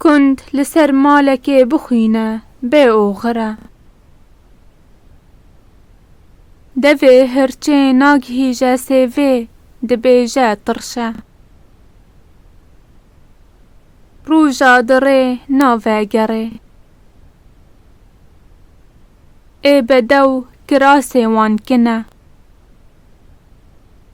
Kund li ser malekê bixwîne bê oxire. Devê hirçê nagihîje sêvê dibêje tirşe. Roja dirê navegerê. Ê bedew kirasê wan kine.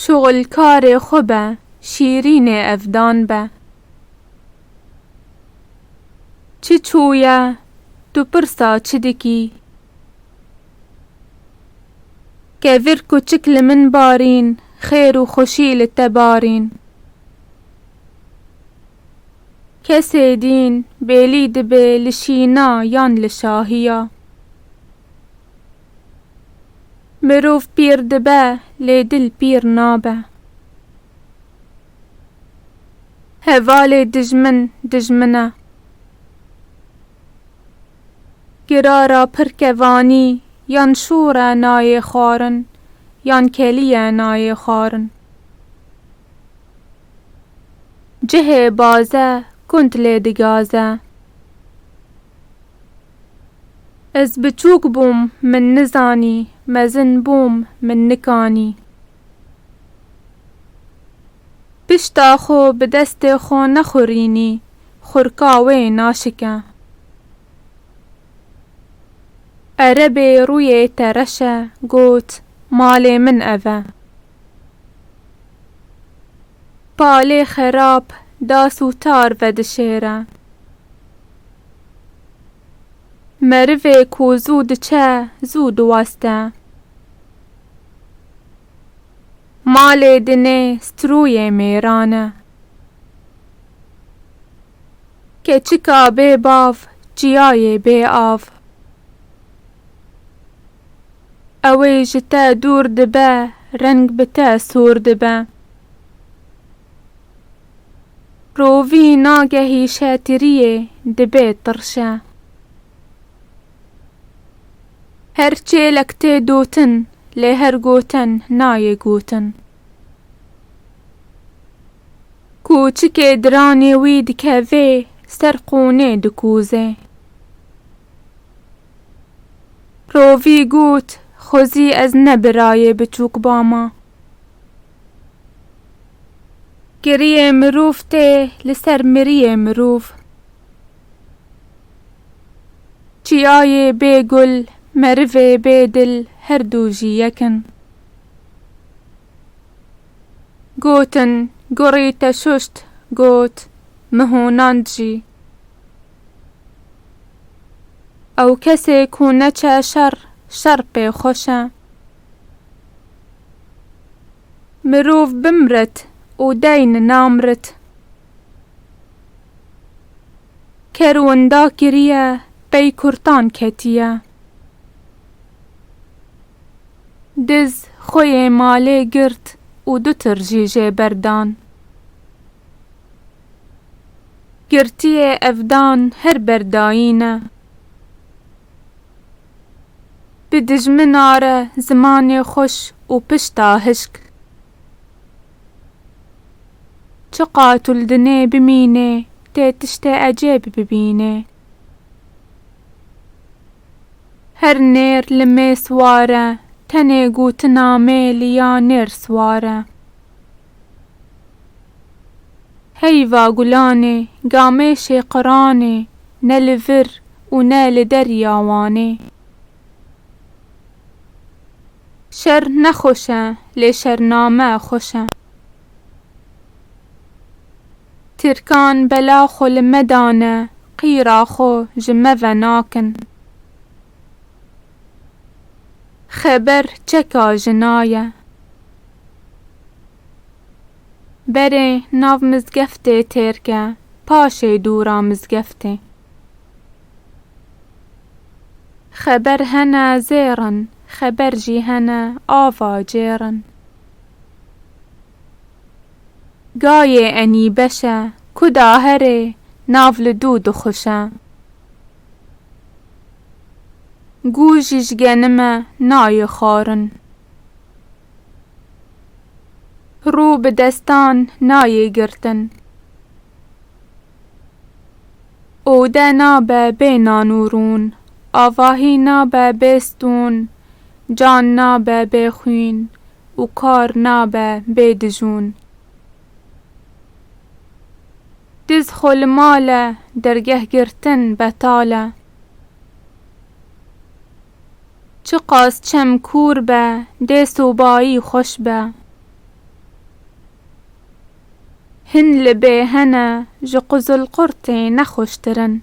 Şixulkarê xwe be, şîrînê evdan be. Çi çûye, tu pirsa çi dikî? Ke vir kuçik li min barîn, xêr û xweşî li te barîn. Kesê dîn, bêlî dibe li şîna yan li şahiya. Mirov pîr dibe lê dil pîr nabe. Hevalê dijmin dijmin e. Girara pir kevanî yan şor e nayê xwarin yan kelî e nayê xwarin. Cihê baze kund lê digaze. Ez biçûk bûm min nizanî, mezin bûm min nikanî. Pişta xwe bi destê xwe nexurînî, xurka wê naşike. Erebê rûyê te reş e, got, Malê min ev e. Palê xerab, das û tar vedişêre. Merivê ku zû diçe, zû diwaste. Malê dinê strûyê mêran e. Keçika bê bav, çiyayê bê av. Ew ê ji te dûr dibe, reng bi te sor dibe. Rovî nagehî şetiriyê dibe tirşe. Her çêlek tê dotin lê her goten nayê gotin. Ku çikê diranê wî dikevê ser qûnê dikûzê. Rovî got xwezî ez ne birayê biçûk bama. Kiriyê mirov tê li ser miriyê mirov. Çiyayê bê gul, merivê bê dil her du jî yek in. Gotin, gorî te şuşt, got, min honand jî. Ew kesê ku neçe şer, şer pê xweş e. Mirov bimrit û deyn namrit. Ker winda kiriye pey kurtan ketiye. Diz xwe yê malê girt û du tir jî jê berdan. Girtiyê evdan her berdayîne. Bi dijmina re zimanê xweş û pişta hişk. Çi qatil dinê bimînê tê tiştê ecêb bibînê. Her nêr li mês ware tenê gotina mêli ya nêr sware. Heyva gulanê gamêşê qiranê ne li vir û ne li derya Wanê. Şer ne xweş e lê şername xweş e. Tirkan bela xwe li me dane qîra xwe ji me ve nakin. Xeber çeka jina ye. Berê nav mizgeftê têrke, paşê dûra mizgeftê. Xeber hene zêrin, xeber jî hene ava cêrin. Gayê enî beşe, kuda herê nav li dû dixuşe. Gû jijgenime nayê xwarin. Rû bi destan nayê girtin. Ode nabe bê nan û rûn. Avahî nabe bê stûn. Can nabe bê xwîn û kar nabe bê dijûn. Diz xwe li mal e, dergeh girtin betal e. Çiqas çem kûr be, dê sobayî xweş be. Hin li bê hene ji quzilqurtê nexweştir in.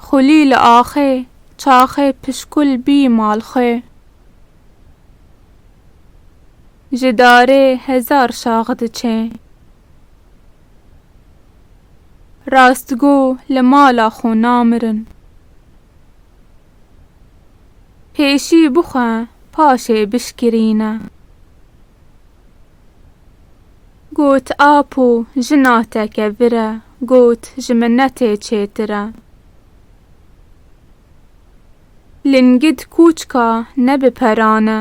Xulî li axê, çaxê pişkul bî mal xwe. Ji darê hezar şax diçê. Rastgo li mala xwe namirin. Pêşî bixwe paşê bişkirîne. Got Apo jina te kevir e got ji minetê çêtir e. Lingid kûçka ne bi peran e.